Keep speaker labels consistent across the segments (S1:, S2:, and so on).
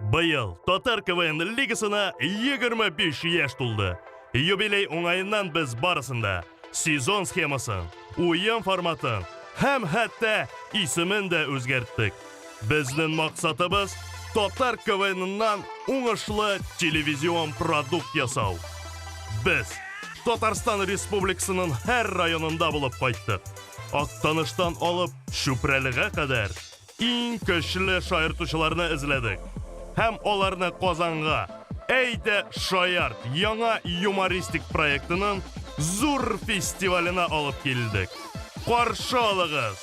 S1: Быел Татар КВН лигасына 25 яшь тулды. Юбилей уңаеннан без барысында сезон схемасын, уен форматын һәм хәтта исемен дә үзгәрттек. Безнең максатыбыз Татар КВНнан уңышлы телевизион продукт ясау. Без Татарстан Республикасының һәр районында булып кайттык. Актаныштан алып Чүпрәлегә кадәр иң көчле шаяртучыларны эзләдек һәм аларны Казанга Әйдә шаярт яңа юмористик проектының зур фестиваленә алып килдек. Каршы алыгыз!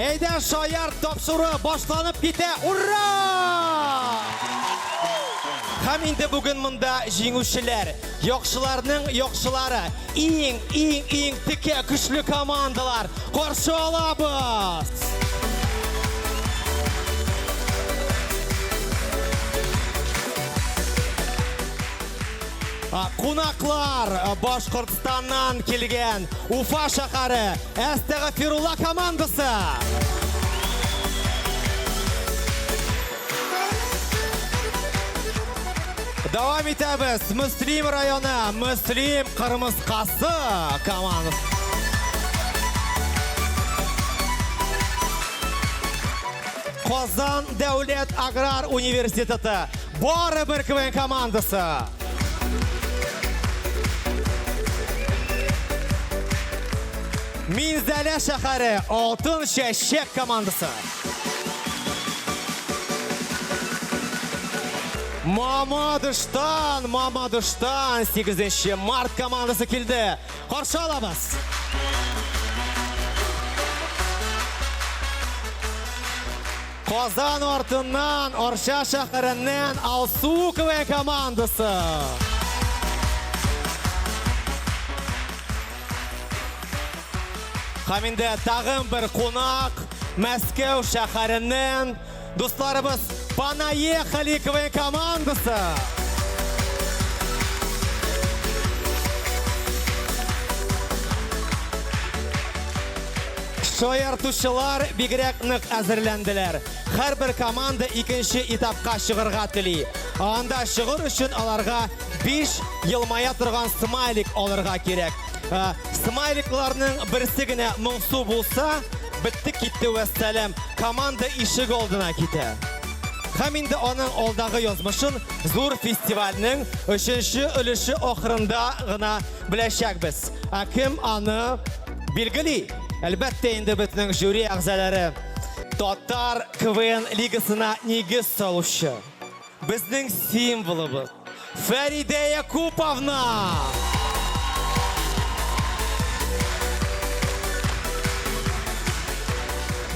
S2: Әйдә, шаяр тапшыру башланып китә! Ура! Һәм инде бүген монда җиңүчеләр, яхшыларның яхшылары, иң, иң, иң текә көчле командалар каршы алабыз! Кунаклар, Башкортстаннан килгән Уфа шәһәре Әстәгәфирулла командасы! Дәвам итәбез. Мөслим районы, Мөслим Кырмыскасы командасы. Казан дәүләт аграр университеты Барыбер КВН командасы! Минзәлә шәһәре Алтын чәчәк командасы! Мамадыштан, Мамадыштан 8 март командасы килде. Каршы алабыз! Казан артыннан Арча шәһәреннән Алсу КВН командасы. Һәм инде тагын бер кунак Мәскәү шәһәреннән дусларыбыз Понаехали КВН командасы. Шаяртучылар бигрәк нык әзерләнделәр. Һәрбер команда икенче этапка чыгырга тели. Анда чыгыр өчен аларга биш елмая торган смайлик алырга кирәк. Ә, Смайликларның берсе генә моңсу булса, бетте китте вәссәлам, команда ишек алдына китә. Һәм инде аның алдагы язмышын зур фестивальнең өченче өлеше ахырында гына беләчәкбез. Ә кем аны Билгели, әлбәттә инде безнең жюри әгъзалары татар КВН лигасына нигез салучы. Безнең символыбыз Фәридә Якуповна!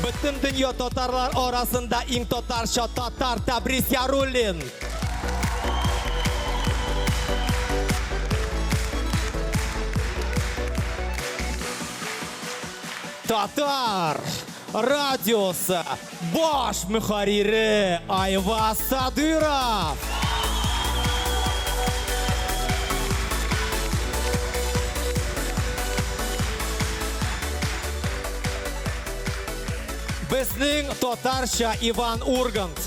S2: Бөтен дөнья татарлар арасында иң татарча татар Тәбрис Яруллин! Татар радиосы баш мөхәррире Айваз Садыров. Безнең татарча Иван Ургант.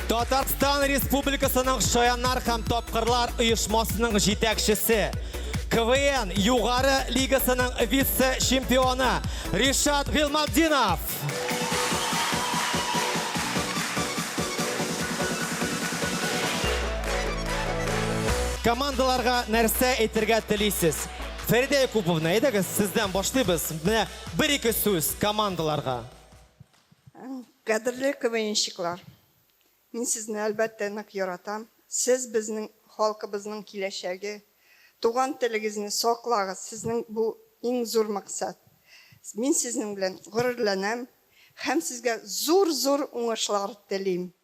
S2: Татарстан Республикасының Шаяннар һәм тапкырлар оешмасының җитәкчесе, КВН югары лигасының вице-чемпионы Ришат Гилматдинов. Командаларга нәрсә әйтергә телисез? Фәридә Якуповна, әйдәгез сездән башлыйбыз. Менә бер-ике сүз командаларга. Кадерле
S3: КВНщиклар! Мин сезне, әлбәттә, нык яратам. Сез, безнең халкыбызның киләчәге. Туган телегезне саклагыз, сезнең бу, иң зур максат. Мин сезнең белән горурланам һәм сезгә зур-зур уңышлар телим!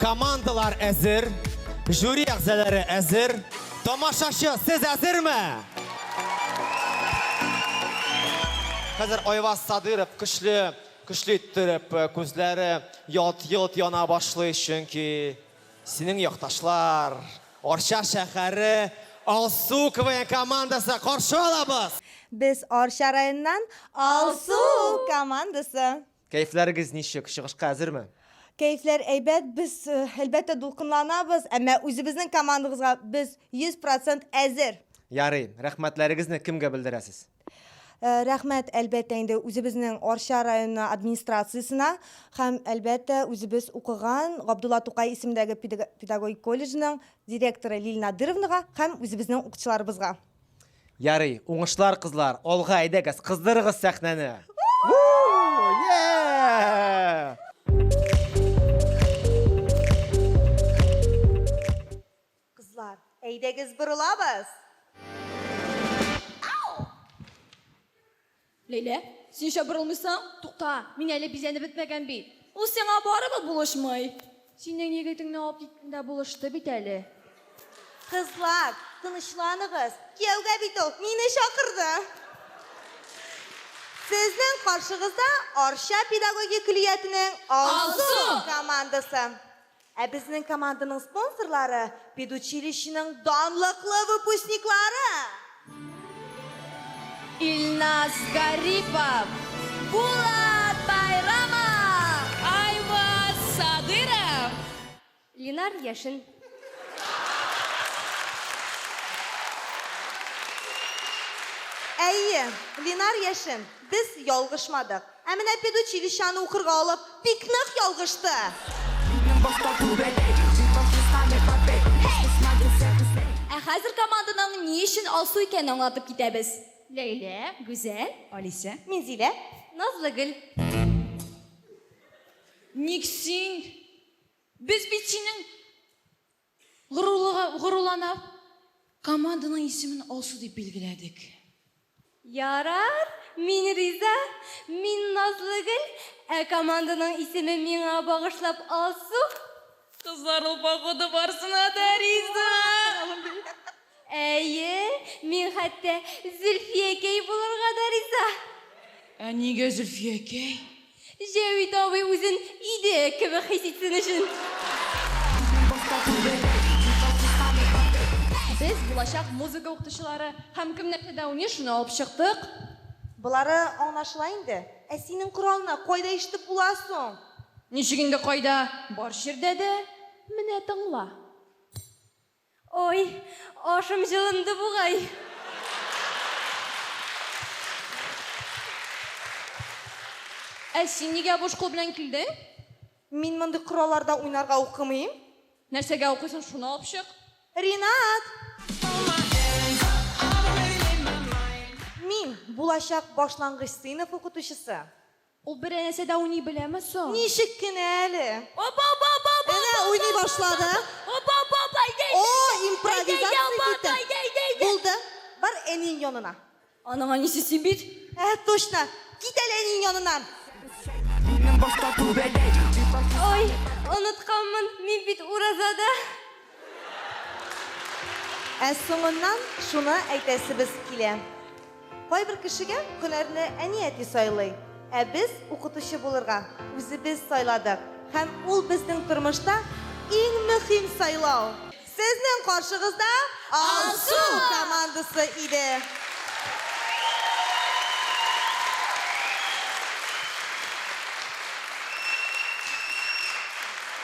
S2: Командалар әзер, жюри әгъзалары әзер. Тамашачы, сез әзерме? Хәзер Айваз Садыров көчле, көчле иттереп э, күзләре ялт-йолт яна башлый, чөнки синең якташлар Арча шәһәре Алсу КВН командасы каршы алабыз! Без Арча
S4: районыннан Алсу командасы. Кәефләрегез
S2: ничек, чыгышка әзерме? Кәефләр
S4: әйбәт, без, әлбәттә, дулкынланабыз, әмма үзебезнең командабызга без 100 процент әзер. Ярый,
S2: рәхмәтләрегезне кемгә белдерәсез? Рәхмәт,
S4: әлбәттә, инде үзебезнең Арча районы администрациясенә һәм, әлбәттә, үзебез укыган Габдулла Тукай исемендәге педагогик колледжның директоры Лилия Надыровнага һәм үзебезнең укытучыларыбызга. Ярый,
S2: уңышлар кызлар, алга әйдәгез, кыздырыгыз сәхнәне!
S4: Кызлар, әйдәгез борылабыз!
S5: Ләйлә, син чабырылмыйсың? Тукта, мин әле бизәнеп бетмәгән бит. Ул сиңа барыбер булышмый. Синең егетеңне алып киткәндә булышты бит әле. Кызлар,
S4: тынычланыгыз, кияүгә бит ул мине чакырды. Сезнең каршыгызда Арча педагогик көллиятенең Алсу командасы. Ә безнең команданың спонсорлары, педучилищеның данлыклы выпускниклары!
S5: Илназ Гарипов, Булат Байрамов! Айваз Садыров! Ленар Яшин!
S4: Әйе, Ленар Яшин, без ялгышмадык! Ә менә педучилищаны укырга алып, бик нык ялгышты.
S5: Ә хәзер команданың ни өчен Алсу икәнен аңлатып китәбез. Ләйлә, Гүзәл. Алисә. Минзилә.
S4: Назлыгөл.
S5: Ник син? Без бит синең. Горурлыгы, горурланып, команданың исемен Алсу дип билгеләдек.
S6: Ярар, мин риза. Мин Назлыгөл, ә команданың исеме миңа багышлап Алсу. Кызлар
S5: ул погода барсына да риза. Әйе,
S6: мин хәтта Зөлфиякәй булырга да риза. Ә
S5: нигә Зөлфиякәй? Җәвит
S6: абый үзен иде кебек хис итсен өчен.
S5: Без булачак музыка укытучылары һәм кемнәрчә дәүни, шуны алып чыктык. Болары
S4: аңлашыла инде. Ә синең коралны кайда ишетеп була соң? Ничек инде
S5: кайда, бар җирдә дә. Менә тыңла.
S6: Ой, ашым җылынды бугай.
S5: Ә син нигә буш кул белән килдең? Мин
S4: мондый коралларда уйнарга укымыйм. Нәрсәгә
S5: укыйсың, шуны алып чык. Ринат!
S4: Мин, булачак башлангыч сыйныф укытучысы.
S5: Ул бер әнәсе дә уйный беләме соң? Ничек кенә әле!
S4: О-ба-ба-ба-ба-ба-ба!
S5: Әнә уйный
S4: башлады. О-ба-ба-ба!
S5: Әйдә, әйдә, О, әйдә!
S4: импровизация Әйдә, әйдә, китте. Албат, әйдә, әйдә, әйдә! Булды, бар әниең янына. Аның әнисе
S5: син бит! Ә, точно!
S4: Кит әле әниең яныннан! Минем башта
S6: түбәләй. Ой, онытканмын, мин бит уразада!
S4: Ә соңыннан шуны әйтәсебез килә. Кайбер кешегә һөнәрне әни-әти сайлый, ә без укытучы булырга үзебез сайладык һәм ул безнең тормышта иң мөһим сайлау! Сезнең каршыгызда Алсу командасы иде.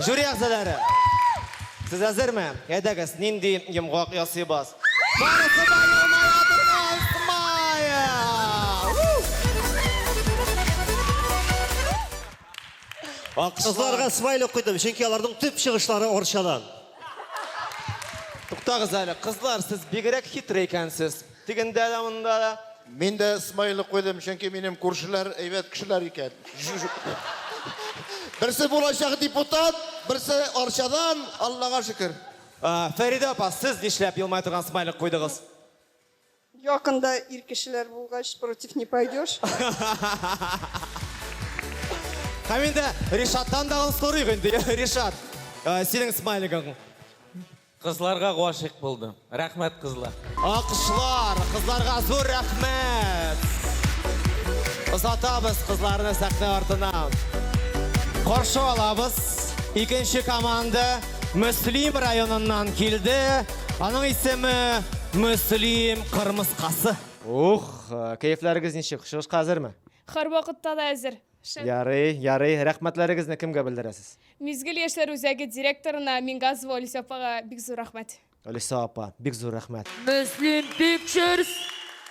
S2: Жюри әгъзалары! Сез әзерме? Әйдәгез, нинди йомгак ясыйбыз? Барысы да Кызларга смайлик
S7: куйдым, чөнки аларның төп чыгышлары Арчадан.
S2: Туктагыз әле, кызлар, сез бигрәк хитрый икәнсез. Тегендә дә, монда да. Мин дә смайлы
S8: куйдым, чөнки минем күршеләр әйбәт кешеләр икән. Берсе булачак депутат, берсе Арчадан, Аллага шөкер. Фәридә апа,
S2: сез нишләп елмая торган смайлик куйдыгыз?
S3: Якында ир кешеләр булгач, против не пойдешь.
S2: Һәм инде Ришаттан да сорыйк инде, Ришат, синең смайлигың. Кызларга
S9: гашыйк булдым. Рәхмәт кызлар. Алкышлар
S2: кызларга зур рәхмәт! Озатабыз кызларны сәхнә артына. Каршы алабыз. Икенче команда Мөслим районыннан килде. Аның исеме Мөслим кырмыскасы. Ух, кәефләрегез ничек, чыгышка әзерме? Хәрвакытта да
S10: әзер. Шәп. Ярый, ярый.
S2: Рәхмәтләрегезне кемгә белдерәсез? Мизгел яшьләр
S10: үзәге директорына Мингазова Олеся апага бик зур рәхмәт. Олеся апа, бик
S2: зур рәхмәт. Мөслим
S11: Пикчерс,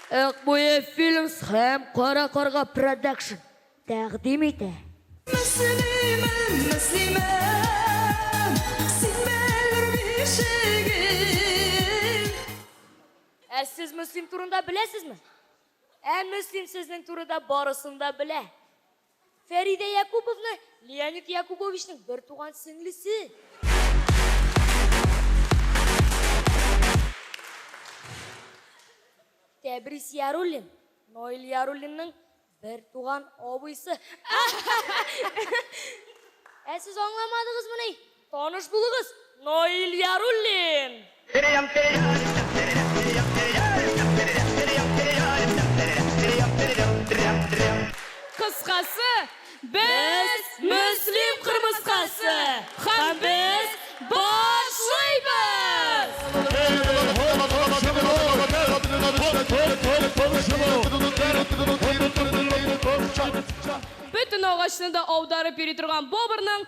S11: Акбуе Филмс һәм Кара карга Продакшн тәкъдим итә. Мөслимем, Мөслимем, син бәллүр бишегем. Ә сез Мөслим турында беләсезме? Ә Мөслим сезнең турыда барысын да белә. Фәридә Якуповна Леонид Якубовичның бертуган сеңлесе. Тәбрис Яруллин Наил Яруллинның бертуган абыйсы. Ә сез аңламадыгызмыни? Таныш булыгыз, Наил Яруллин!
S10: Кыскасы, без Мөслим кырмыскасы һәм без башлыйбыз! Бөтен агачны да аударып йөри торган Бобрның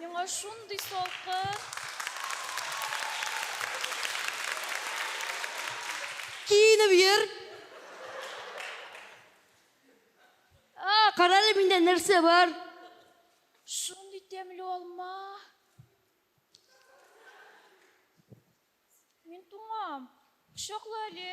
S10: Миңа шундый салкын.
S11: Киенеп йөр. А, карале миндә нәрсә бар.
S10: Шундый тәмле алма. Мин туңам. Кочакла әле.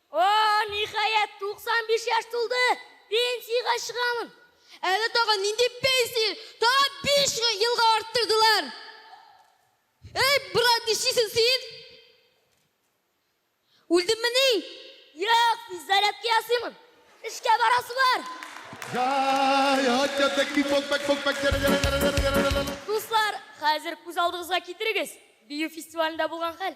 S11: О, ниһаять, 95 яшь тулды, пенсиягә чыгамын! Әле тагын
S6: нинди пенсия, тагын биш елга арттырдылар! Әй, брат, нишлисең син? Үлдеммени? Юк,
S11: физзарядка ясыймын. Эшкә барасы бар. Дуслар, хәзер күз алдыгызга китерегез, бию фестивалендә булган хәл.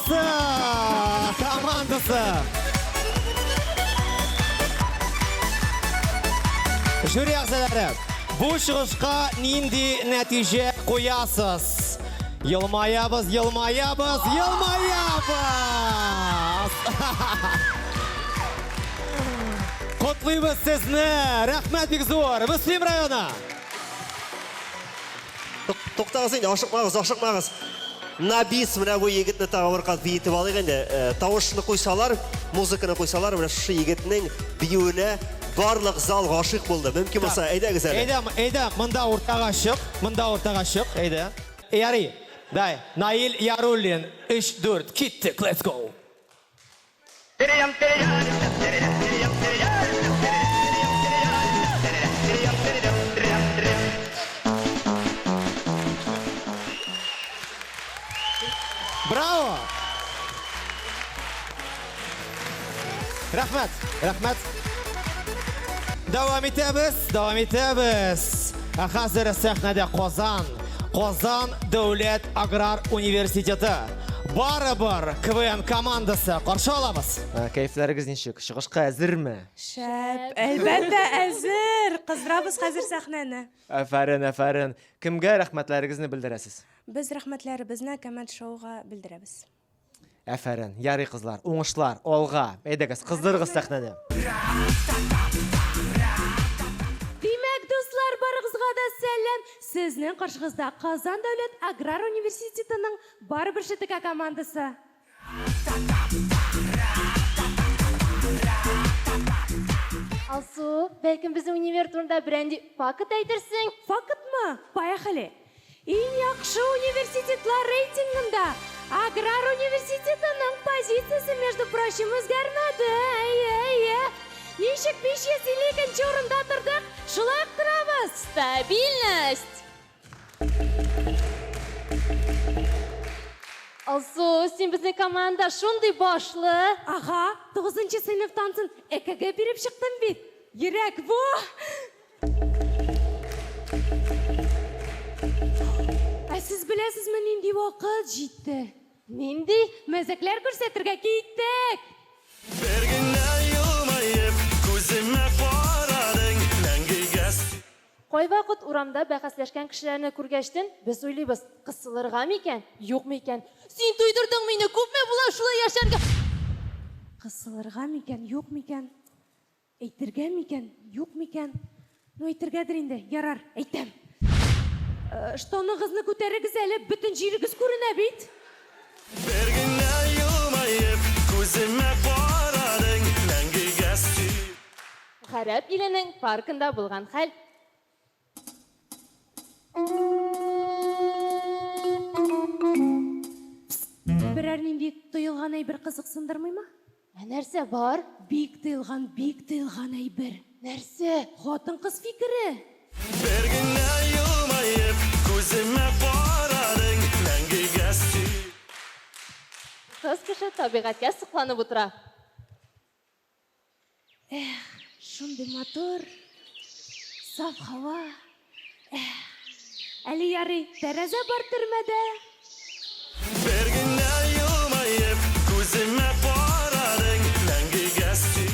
S2: Командасы! Жюри әгъзалары, бу чыгышка нинди нәтиҗә куясыз? Елмаябыз, елмаябыз, елмаябыз! Котлыйбыз сезне! Рәхмәт бик зур! Мөслим районы!
S7: Туктагыз инде, ашыкмагыз, ашыкмагыз. Набис, менә бу егетне тагы бер кат биетеп алыйк инде. Э, тавышны куйсалар, музыканы куйсалар, менә шушы егетнең биюенә барлык зал гашыйк булды. Мөмкин булса, әйдәгез әле. Әйдә, әйдә, монда
S2: уртага чык, монда уртага чык, әйдә. Ярый. Дай, Наил Яруллин, 3-4, киттек, let's go. Браво! Рәхмәт! Рәхмәт! Дәвам итәбез, дәвам итәбез. Ә хәзер сәхнәдә Казан, Казан дәүләт аграр университеты. Барыбер КВН командасы каршы алабыз. Ә, Кәефләрегез ничек? Чыгышка әзерме? Шәп,
S4: әлбәттә, әзер! Кыздырабыз хәзер сәхнәне. Афәрин, афәрин.
S2: Кемгә рәхмәтләрегезне белдерәсез? Без рәхмәтләребезне
S4: Коммент шоуга белдерәбез. Афәрин.
S2: Ярый кызлар, уңышлар, алга. Әйдәгез, кыздырыгыз сәхнәне.
S6: Димәк, дуслар, барыгызга да сәлам! Сезнең каршыгызда Казан дәүләт аграр университетының Барыбер ШТК командасы.
S11: Алсу, бәлкем безнең универ турында берәнди факт әйтерсең? Фактмы?
S6: Поехали! Иң яхшы университетлар рейтингында Аграр университетының позициясе, между прочим, үзгәрмәде. Әйе, әйе. Ничек 552 урында тордык, шулай ук торабыз. Стабильность!
S11: Алсу, син безнең команда шундый башлы. Ага,
S6: 9 сыйныф тансын ЭКГ биреп чыктым бит. Йөрәк бу. Ә сез беләсезме, нинди вакыт җитте? Нинди мәзәкләр күрсәтергә киттек? Бер генә елмаеп, күземә
S11: карадың, мәңгегә Кайвакыт урамда бәхәсләшкән кешеләрне күргәчтен, без уйлыйбыз, кысылырга микән, юкмы икән? Син туйдырдың
S6: мине, күпме була шулай яшәргә? Кысылырга микән, юкмы икән? Әйтергә микән, юкмы икән? Ну, әйтергәдер инде, ярар, әйтәм. Штаныгызны күтәрегез әле, бөтен җирегез күренә бит. Бер генә елмаеп, күземә
S11: карадың, мәңгегә сөю. Гарәп иленең паркында булган хәл.
S6: Берәр нинди тоелган әйбер кызыксындырмыймы? Ә нәрсә бар?
S11: Бик тыелган,
S6: бик тыелган әйбер. Нәрсә?
S11: Хатын-кыз
S6: фикере. Бер генә елмаеп, күземә карадың,
S11: мәңгегә сөй. Кыз кеше табигатькә сокланып утыра.
S6: Эх, шундый матур, саф һава. Эх, әле ярый, тәрәзә бар төрмәдә.
S1: Бер генә елмаеп, күземә карадың, мәңгегә сөй.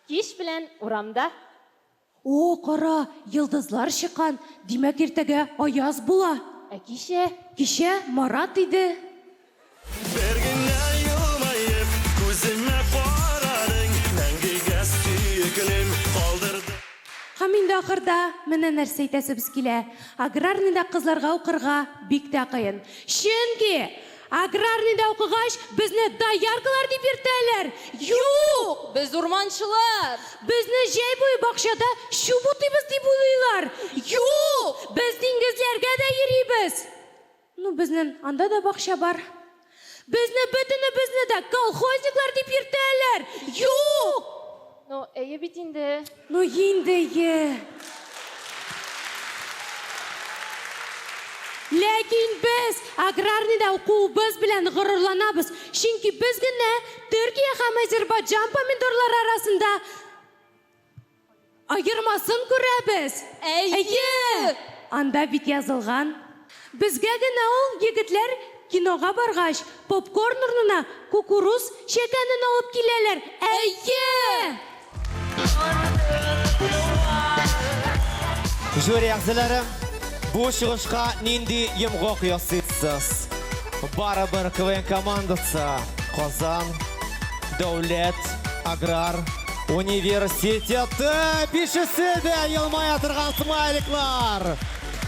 S11: Кич белән урамда. О,
S6: кара, йолдызлар чыккан, димәк, иртәгә аяз була. Ә кичә?
S11: Кичә Марат
S6: иде. Бер
S1: генә елмаеп, күземә карадың, мәңгегә сөеклем калдырдың. Һәм инде
S6: ахырда менә нәрсә әйтәсебез килә, аграрныйда кызларга укырга бик тә кыен. Чөнки! Аграрныйда укыгач, безне дояркалар дип йөртәләр? Юк! Без урманчылар!
S5: Безне җәй
S6: буе бакчада чүп утыйбыз дип уйлыйлар? Юк! Без диңгезләргә дә йөрибез! Ну, безнен анда да бакча бар. Безне бөтенебезне дә колхозниклар дип йөртәләр? Юк! Ну, әйе
S11: бит инде. Ну, инде
S6: әйе. Ләкин без аграрныйда укуыбыз белән горурланабыз, чөнки без генә Төркия һәм Азербайджан помидорлары арасында аермасын күрәбез. Әйе! Анда бит язылган. Безгә генә ул егетләр кинога баргач, попкорн урнына кукуруз чәкәнен алып киләләр, әйе!
S2: Жюри әгъзалары, бу чыгышка нинди йомгак ясыйсыз? Барыбер КВН командасы Казан дәүләт аграр университеты! Бишесе дә елмая торган смайликлар!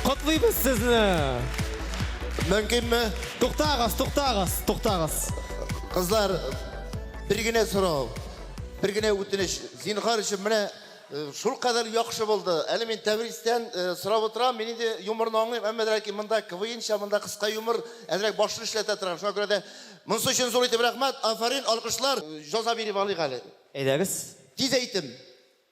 S2: Котлыйбыз сезне!
S8: Мөмкинме? Туктагыз, туктагыз,
S2: туктагыз. Кызлар,
S8: бер генә сорау, бер генә үтенеч. Зинхар өчен менә э, шул кадәр яхшы булды. Әле мин Тәбризтән э, сорап утырам, мин инде юморны аңлыйм, әмма ләкин монда КВНча, монда кыска юмор, әзрәк башны эшләтә торган. Шуңа күрә дә монысы өчен зур итеп рәхмәт, афәрин, алкышлар. Җаза биреп алыйк әле. Әйдәгез. Тиз
S2: әйтем.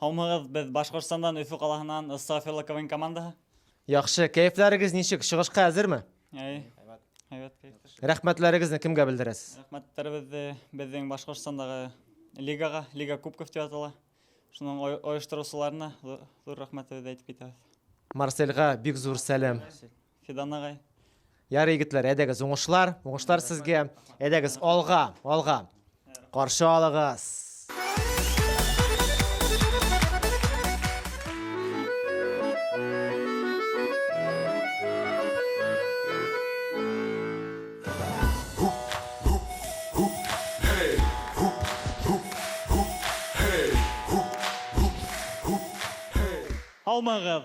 S2: Һаумыгыз, без
S12: Башкортстандан Өфө калаһынан Ыстафилла КВН командаһы. Яхшы,
S2: кәефләрегез ничек, чыгышка әзерме? Әй,
S12: әйбәт кәеф. Рәхмәтләрегезне кемгә
S2: белдерәсез? Рәхмәтләребезне
S12: безнең Башкортстандагы лигага, Лига Кубков дип атала. Шуның ой- оештыручыларына зу- зур рәхмәтебезне әйтеп китәбез. Марсельга
S2: бик зур сәлам. Фидан агай.
S12: Ярый, егетләр,
S2: әйдәгез, уңышлар, уңышлар сезгә. Әйдәгез, алга, алга. Каршы алыгыз.
S12: Һаумыгыз!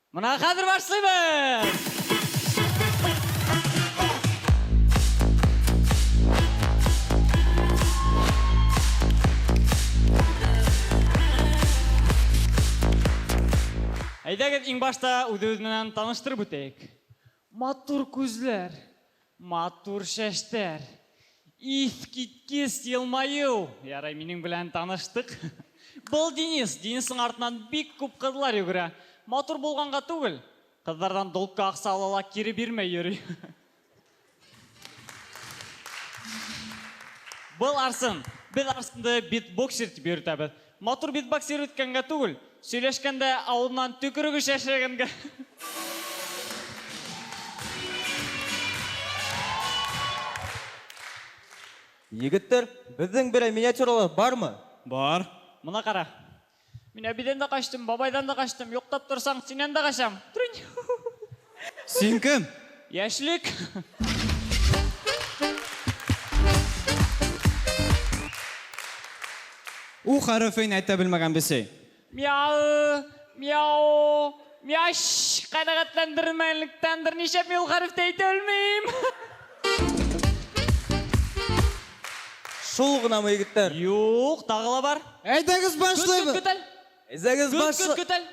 S12: Менә хәзер башлыйбыз! Әйдәгез, иң башта үзебез менән таныштырып үтәйек. Матур күзләр, Матур чәчтәр! Искиткеч елмаю! Ярый, минем белән таныштык. Был Денис. Денисның артыннан бик күп кызлар йөгерә. Матур булганга түгел, кызлардан долгка акча ала ла кире бирмәй йөри. Был Арсен. Без Арсенды битбоксер дип йөртәбез. Матур битбоксер үткәнгә түгел, сөйләшкәндә авызыннан төкерек оча эшләгәнгә.
S2: Егеттер, безнең берәй миниатюралар бармы? Бар. Моны
S9: кара.
S12: Мин әбидән дә качтым, бабайдан да качтым, юктап торсаң, синнән дә качам! Трунь!
S9: Син кем? Яшьлек. У хәрефен әйтә белмәгән бесәй. Мяу,
S12: мяу, мяш. Канәгатьләндермәгәнлектән берничә мин ул хәреф тә әйтә белмим.
S2: Шул гынамы, егетләр? Юк, тагы ла
S12: бар. Әйдәгез Көт, көт, башлыйбыз.
S9: көт әле.
S12: Әйдәгез Көт, көт, башлы.
S2: көт әле.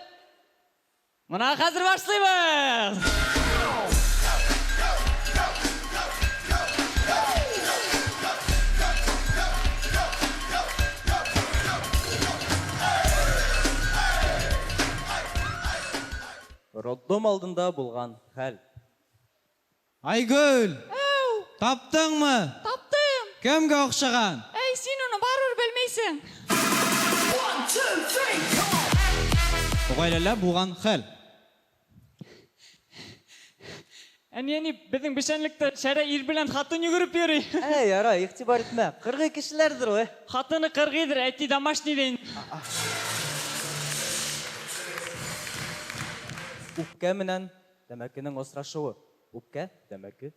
S12: Менә хәзер башлыйбыз!
S2: Роддом алдында булган хәл. Айгөл!
S9: Әу! Таптыңмы? Таптым!
S12: Кемгә охшаган?
S9: Әй, син уны
S12: барыбер белмисең! One, two, three, come
S9: on! Гаиләлә булган хәл.
S12: Әни-әни, безнең печәнлектә шәрә ир белән хатын йөгереп йөри. Әй, ярай, игътибар
S2: итмә. Кыргый кешеләрдер ул, э. Хатыны кыргыйдыр,
S12: әти домашний дә инде. А-а.
S2: Үпкә менән Тәмәкенең асрашуы, үпкә, тәмәке.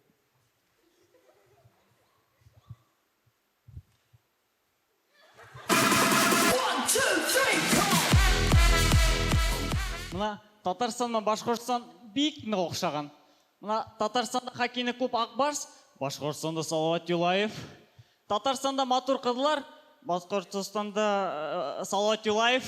S12: Менә Татарстан белән Башкортстан бик нык охшаган. Менә Татарстанда хоккейны күп Акбарс, Башкортстанда Салават Юлаев. Татарстанда матур кызлар. Башкортостанда Салават Юлаев.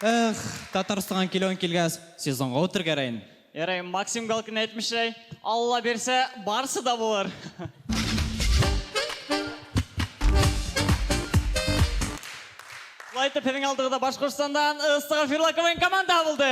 S9: Эх, Татарстанга килүең килгәс, сезонга утергәрәен. Ярый, Максим
S12: Галкин әйтмешәй, Алла бирсә, барсы да булыр. Шулай итеп, сезнең алдыгызда Башкортстандан Ыстыгафирла КВН команда булды.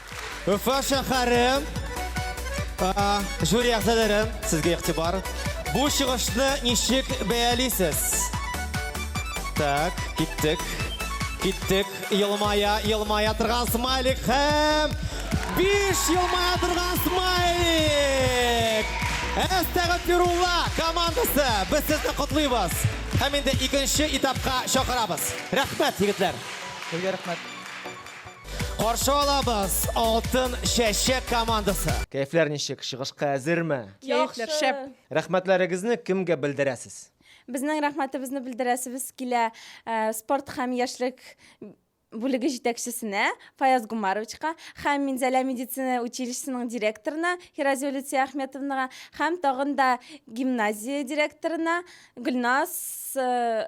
S2: Уфа шәһәре жюри әгъзалары сезгә игътибар. Бу чыгышны ничек бәялисез? Так, киттек. Киттек. Елмая, елмая торган смайлик һәм биш елмая торган смайлик. Әстәгәфирулла командасы без сезне котлыйбыз. Һәм инде икенче этапка чакырабыз. Рәхмәт, егетләр. Сезгә рәхмәт. Каршы алабыз Алтын чәчәк командасы. Кәефләр ничек, чыгышка әзерме? Кәефләр шәп.
S10: Рәхмәтләрегезне
S2: кемгә белдерәсез? Безнең рәхмәтебезне
S10: белдерәсебез килә э, спорт һәм яшьлек бүлеге җитәкчесенә Фаяз Гумаровичка һәм Минзәлә медицина училищесының директорына Хиразия Люция Ахметовнага һәм тагын да гимназия директорына Гөлназ э,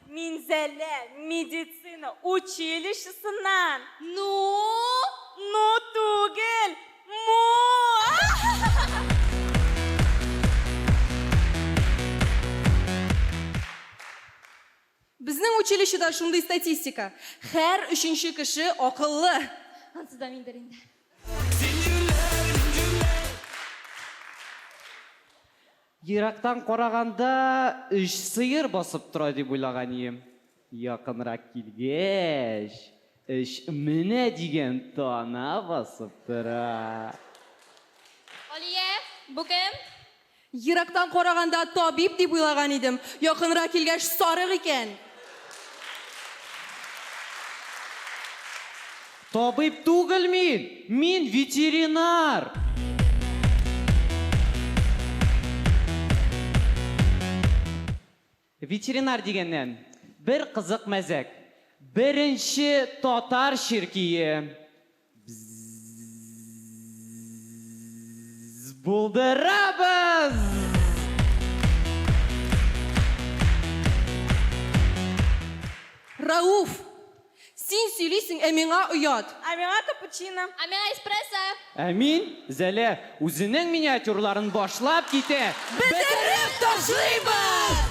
S6: Минзәлә медицина училищесыннан! Ну? Ну түгел, му!
S5: Безнең училищеда шундый статистика, һәр өченче кеше акыллы! Ансы да миндер
S6: инде.
S12: Ерактан караганда, өч сыер басып тора дип уйлаган ием. Якынрак килгәч, өч менә дигән тана басып тора.
S6: Алия, бу кем? Ерактан
S5: караганда, табиб дип уйлаган идем. Якынрак килгәч, сарык икән.
S12: Табиб түгел мин! Мин ветеринар! Ветеринар дигәннән, бер кызык мәзәк. Беренче татар чиркие Бззззззззззз булдырабыз!
S6: Рауф! Син сөйлисең, ә миңа оят. Ә миңа капучино.
S5: Ә миңа эспрессо. Ә мин,
S12: Зәлә, үзенең миниатюрларын башлап китә. Бетереп
S6: ташлыйбыз!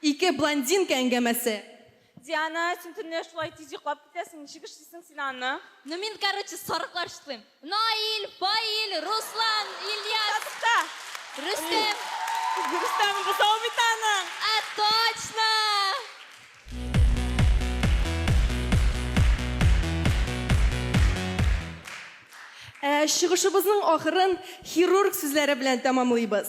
S6: Ике блондинка әңгәмәсе. Диана,
S5: син төнлә шулай тиз йоклап китәсең, ничек эшлисең син аны? Ну мин, короче, сарыклар чыслыйм. Наил, Фаил, Руслан, Ильяс. Татыкта! Рөстәм. Рөстәм бозау бит аның. Ә точно!
S6: Ә чыгышыбызның ахырын хирург сүзләре белән тәмамлыйбыз.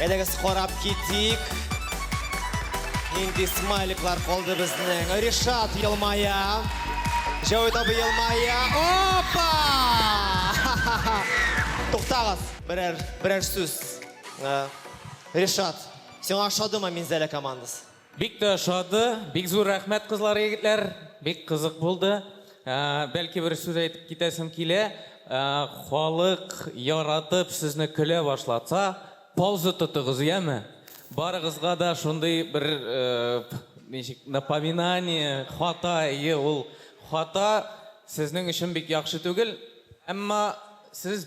S2: Әйдәгез карап китик. Нинди смайликлар калды безнең. Ришат елмая. Җәүит абы елмая. Опа! Туктагыз. Берәр, берәр сүз. Э, Ришат, сиңа ошадымы Минзәлә командасы? Бик тә ошады,
S13: бик зур рәхмәт кызлар, егетләр, бик кызык булды. Ә, Бәлки бер сүз әйтеп китәсем килә, Ә, халык яратып сезне көлә башласа, пауза тотыгыз, яме? Барыгызга да шундый бер, э, ничек, напоминание, хата, әйе, ул хата сезнең өчен бик яхшы түгел, әмма сез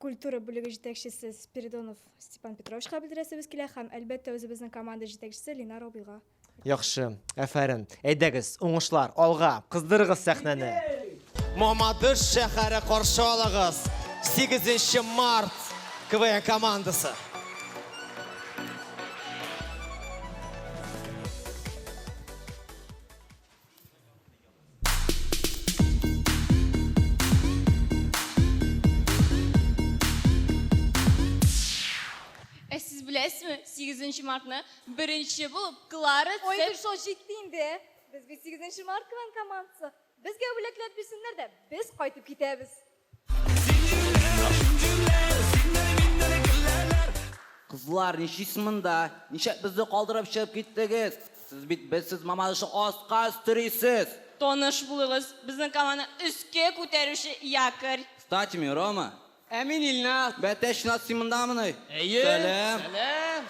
S10: культура бүлеге җитәкчесе Спиридонов Степан Петровичка белдерәсебез килә һәм, әлбәттә, үзебезнең команда җитәкчесе Линар абыйга. Яхшы,
S2: әфәрен. Әйдәгез, уңышлар, алга! Кыздырыгыз сәхнәне! Мамадыш шәһәре каршы алыгыз! Сигезенче март КВН командасы!
S5: Ә сез беләсезме, 8 мартны беренче булып Клара Ой, Цеп... шо җитте
S6: инде. Без бит 8 март кван командасы. Безгә бүләкләр бирсеннәр дә, без кайтып китәбез.
S14: Кызлар, ничисез монда? Ничек безне калдырып чыгып киттегез? Сез бит безсез Мамадышны аска өстерисез! Таныш булыгыз,
S5: безнең команданы өскә күтәрүче якорь. Кстати, мин Рома.
S14: Ә мин Ильназ.
S12: Бәтәч Ильназ, син
S14: мондамыни? Әйе. Сәлам.
S12: Сәлам.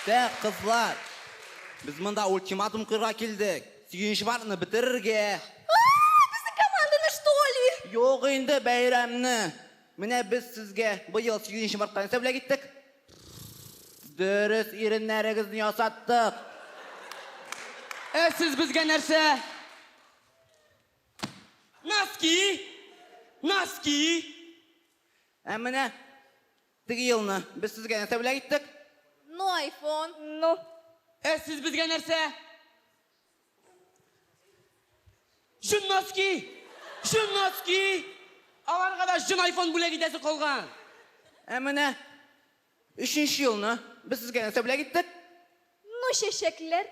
S14: Тә, кызлар, без монда ультиматум куярга килдек. Сөенч варны бетерергә. Ааа, безнең
S6: команданы что ли? Юк инде
S14: бәйрәмне. Менә без сезгә быел Сөенч марттан нәрсә бүләк иттек? Дөрес иреннәрегезне ясаттык. Ә
S12: сез безгә нәрсә? Носки! Носки!
S14: Ә менә Теге елны без сезгә нәрсә бүләк иттек? Ну,
S6: айфон. Ну. Ә сез безгә
S12: нәрсә? Җон носки! Җон носки! Аларга да җон айфон бүләк итәсе калган. Ә менә
S14: өченче елны без сезгә нәрсә бүләк иттек? Ну
S6: чәчәкләр.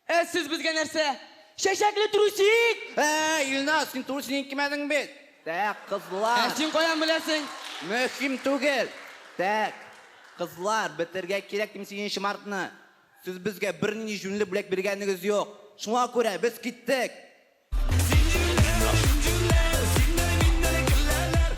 S6: Ә сез
S12: безгә нәрсә? Чәчәкле трусик! Әй, Илназ, син
S14: трусигың кимәдең бит. Так, кызлар. Ә син каян беләсең?
S12: Мөһим
S14: түгел. Так, кызлар, бетергә кирәк дим сигезенче мартны. Сез безгә бернинди җүнле бүләк биргәнегез юк. Шуңа күрә без киттек. Зинҗирләр, зинҗирләр, синдәй
S5: миндәй гөлләләр.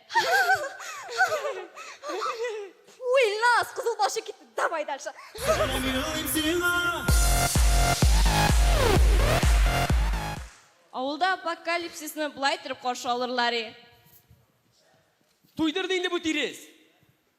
S10: Уйлас, кызыл башы китте. Давай дальше.
S5: Авылда апокалипсисны былай торып каршы алырлар и.
S12: Туйдырды инде бу тирес.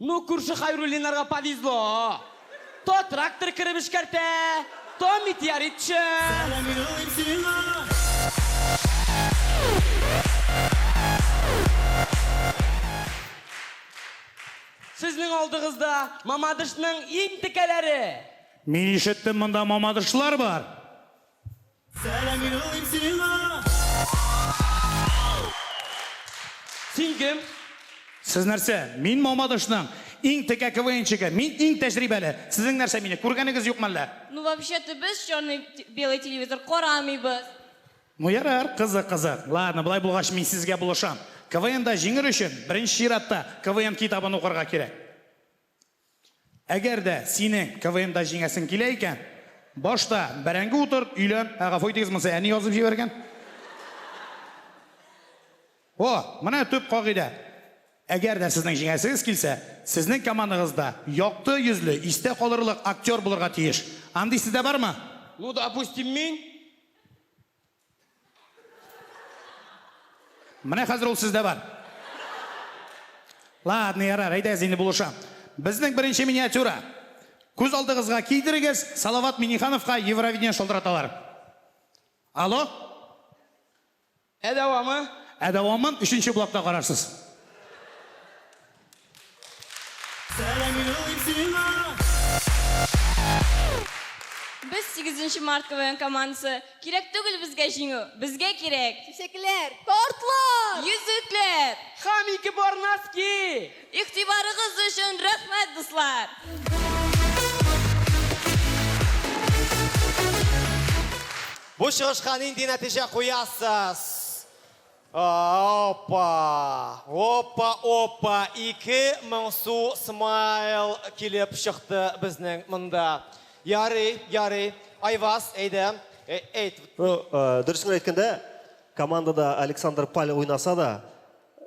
S12: Ну, күрше Хайруллиннарга повезло! То трактор кереп эшкәртә, то метеоритчы! Сезнең алдыгызда Мамадышның иң текәләре! Мин
S2: ишеттем, монда Мамадышлар бар! Сәлам
S12: юллыйм сиңа! Син кем? Сез нәрсә?
S2: Мин Мамадышның иң текә КВНчигы. Мин иң тәҗрибәле. Сезнең нәрсә мине күргәнегез юкмы әллә? Ну вообще-то без
S5: черный белый телевизор карамыйбыз. Ну ярар,
S2: кызык кызык. Ладно, болай булгач мин сезгә булышам. КВНда җиңер өчен, беренче чиратта, КВН китабын укырга кирәк. Әгәр дә синең КВНда җиңәсең килә икән, башта бәрәңге утырт, өйлән. Ә гафу итегез, монысы әни язып җибәргән. О, менә төп кагыйдә. Әгәр дә сезнең җиңәсегез килсә, сезнең командагыз да якты йөзле, истә калырлык актер булырга тиеш. Андый сездә бармы? Ну, допустим,
S12: мин.
S2: Менә хәзер ул сездә бар. Ладно, ярар, әйдәгез инде булыша. Безнең беренче миниатюра. Күз алдыгызга кидерегез, Салават Минихановка Евровидение шалтыраталар. Алло?
S12: Ә дәвамы? Ә дәвамын өченче
S2: блокта карарсыз.
S5: Без, сигезенче март КВН командасы, кирәк түгел безгә җиңү, безгә кирәк! Чәчәкләр!
S10: Тортлар! Йөзекләр!
S5: Һәм ике пар
S12: носки! Игътибарыгыз
S5: өчен рәхмәт, дуслар!
S2: Бу чыгышка нинди нәтиҗә куясыз? Опа! Опа, опа! Ике моңсу смайл килеп чыкты безнең монда. Ярый, ярый. Айваз, әйдә, әйт. Ну,
S7: дөресен әйткәндә, командада Александр Паль уйнаса да,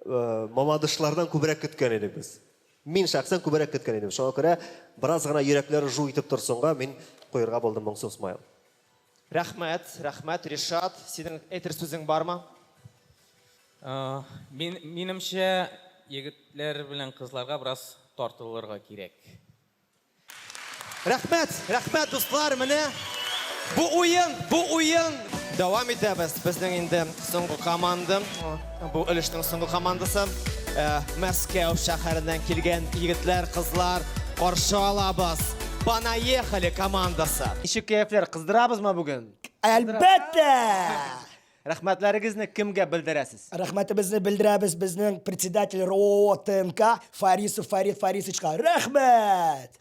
S7: мамадышлардан күбрәк көткән идек без. Мин шәхсән күбрәк көткән идем. Шуңа күрә бераз гына йөрәкләр жу итеп торсынга, мин куерга булдым моңсу смайл. Рәхмәт,
S2: рәхмәт, Ришат, синең әйтер сүзең бармы? Мин,
S13: минемчә, егетләр белән кызларга бераз тартылырга кирәк. Рәхмәт,
S2: рәхмәт, дуслар, менә бу уен, бу уен! Дәвам итәбез, безнең инде соңгы команда. Бу өлешнең соңгы командасы э, Мәскәү шәһәреннән килгән егетләр, кызлар каршы алабыз. Понаехали командасы. Ничек кәефләр, кыздырабызмы бүген? Әлбәттә! Рәхмәтләрегезне кемгә белдерәсез? Рәхмәтебезне белдерәбез
S15: безнең председатель РОО ТНК Фарисов Фарид Фарисовичка. Рәхмәт!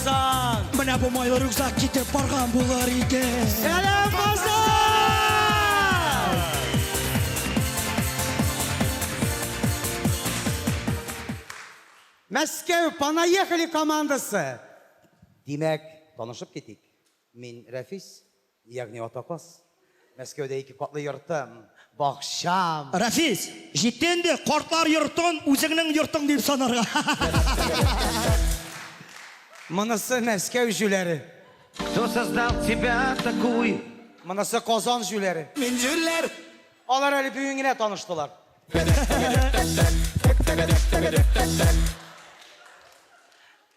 S13: Сан! Менә бу майлы
S15: рюкзак китеп барган булыр иде. Сәлам,
S2: Казан!
S16: Мәскәү Понаехали командасы. Димәк, танышып китик. Мин Рәфис, Ягъни атаказ. Мәскәүдә ике катлы йортым, бакчам. Рәфис,
S15: җитте инде, картлар йортын үзеңнең йортың дип санарга.
S16: Монысы Мәскәү җүләре. Кто
S14: создал тебя такую? Монысы Казан
S16: җүләре. Мин җүләр.
S15: Алар әле
S16: бүген генә таныштылар.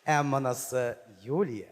S16: Ә монысы Юлия.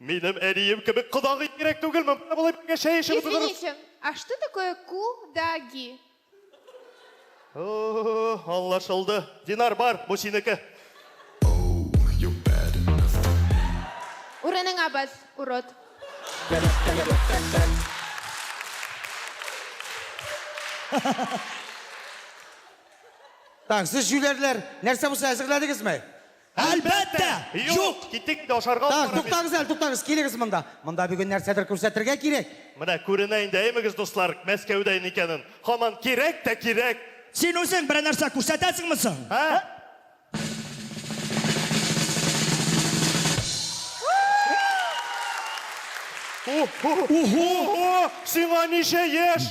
S1: Минем әнием кебек кодагый кирәк түгел, мөмкин болай бергә чәй эчеп утырырыз. Извините, а что такое
S6: кудаги?
S1: Аңлашылды. Динар, бар, бу синеке.
S6: Урыныңа бас, урод.
S16: Так, сез җүләрләр, нәрсә булса әзерләдегезме? Әлбәттә!
S15: Юк!
S1: Киттек инде, ашарга Так, утырабыз. туктагыз әле, туктагыз,
S16: килегез монда. Монда бүген нәрсәдер күрсәтергә кирәк. Менә күренә инде,
S1: әйемегез, дуслар, Мәскәүдә икәнен. Һаман кирәк тә кирәк! Син үзең берәр
S15: нәрсә күрсәтәсеңме соң?
S1: Ә? Ух-ху! Ух-ху! О, сиңа ничә яшь?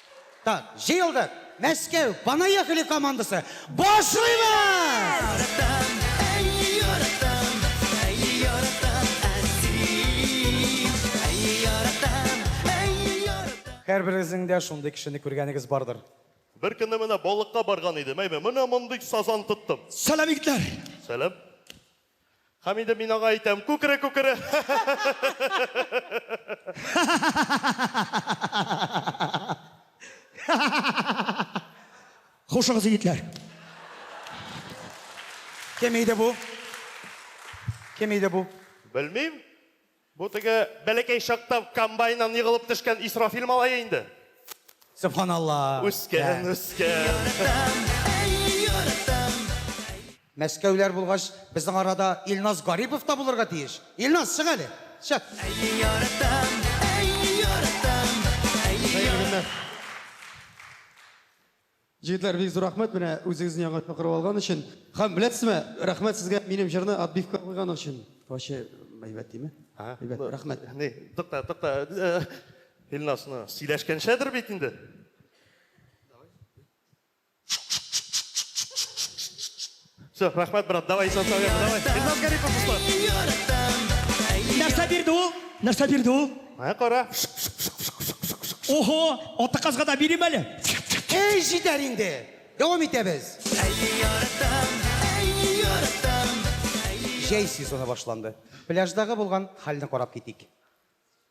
S16: Так, җыелдык! Мәскәү, понаехали командасы! Башлыйбыз! Һәрберегезнең дә шундый кешене күргәнегез бардыр. Бер көнне менә
S1: балыкка барган идем, әйме, менә мондый сазан тоттым. Сәлам, егетләр!
S15: Сәлам.
S1: Һәм инде мин аңа әйтәм, күкере, күкере!
S15: Хушыгыз, егетләр!
S16: Кем иде бу? Кем иде бу?
S1: Белмим. Бу теге бәләкәй чакта комбайннан егылып төшкән Исрафил малае инде. Сөбханалла.
S16: Үскән,
S1: үскән.
S16: Мәскәүләр булгач, безнең арада Илназ Гарипов та булырга тиеш. Илназ, чык әле. Чык. Хәерле көннәр.
S17: Җегетләр, бик зур рәхмәт менә үзегезне яңа чакырып алган өчен. Хәм беләсезме, рәхмәт сезгә минем җырны отбивка куйган өчен. Ваче мәйбәт диме? Ага. Мәйбәт, рәхмәт. Ни, тукта,
S1: тукта. Илнас, ну, сөйләшкәнчәдер бит инде. Все, рахмәт, брат, давай, исән сау яңгыр, давай. Илназ Гарипов, дуслар. Нәрсә бирде
S15: ул? Нәрсә бирде ул? Ә, кара. Охо, аты казга да бирим әле. Эй, җитәр
S16: инде. Дәвам итәбез. Җәй сезоны башланды. Пляждагы булган хәлне карап китик.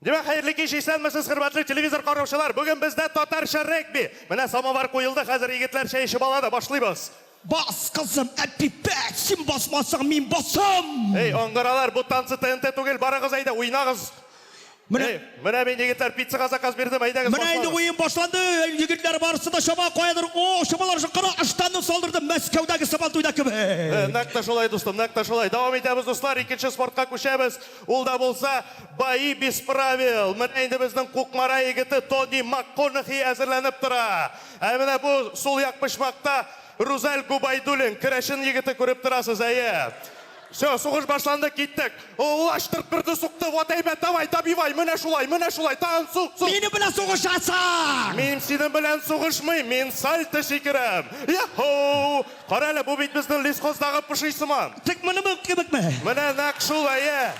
S1: Димәк, хәерле кич, исәнмесез, хөрмәтле телевизор караучылар! Бүген бездә татарча регби! Менә самовар куелды, хәзер егетләр чәй эчеп алады, башлыйбыз! Бас, кызым,
S15: Әпипә, син басмасаң, мин басам! Эй, аңгыралар, бу
S1: танцы ТНТ түгел, барыгыз әйдә, уйнагыз! Менә. Эй, менә мин, егетләр, пиццага заказ бирдем, әйдәгез, Менә инде башлагыз!
S15: уен башланды, әй, егетләр, барысы да чаба, каядыр, о, чабалар шул, кара, ыштанны салдырды, Мәскәүдәге Сабантуйда Э, кебек! нәкъ тә шулай,
S1: дустым, нәкъ тә шулай! Дәвам итәбез, дуслар, икенче спортка күчәбез! Ул да булса, бои без правил. Менә инде безнең Кукмара егете Тони Макконахи әзерләнеп тора. Ә менә бу сул як почмакта Рузәл Губайдуллин, керәшен егете, күреп торасыз, әйе. Всё, сугыш башланды, киттек. Лаштырт берне сукты, вот әйбәт, давай, добивай, менә шулай, менә шулай, тагын сук, сук! Минем белән
S15: сугышасың! Мин синең белән
S1: сугышмыйм, мин сальто сикерәм! Йа-һоу! Карале, бу бит безнең лесхоздагы поши сыман. Тик монымын кебекме?
S15: Менә нәкъ шул, әйе.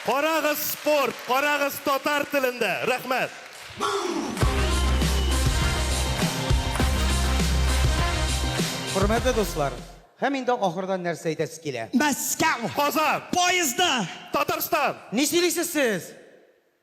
S1: Карагыз спорт, карагыз татар телендә. Рәхмәт.
S16: Хөрмәтле дуслар, һәм инде ахырдан нәрсә әйтәсе килә? Мәскәү. Казан.
S15: Поездда. Татарстан.
S1: Ни сөйлисез
S16: сез?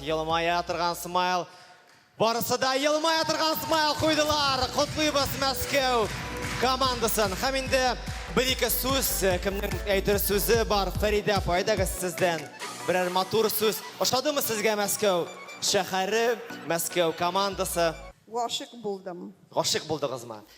S2: Елмая торган смайл. Барысы да елмая торган смайл куйдылар. Котлыйбыз Мәскәү командасын. Һәм инде бер-ике сүз, кемнең әйтер сүзе бар? Фәридә апа, әйдәгез сездән берәр матур сүз. Ошадымы сезгә Мәскәү шәһәре, Мәскәү командасы? Гашыйк
S3: булдым. Гашыйк булдыгызмы?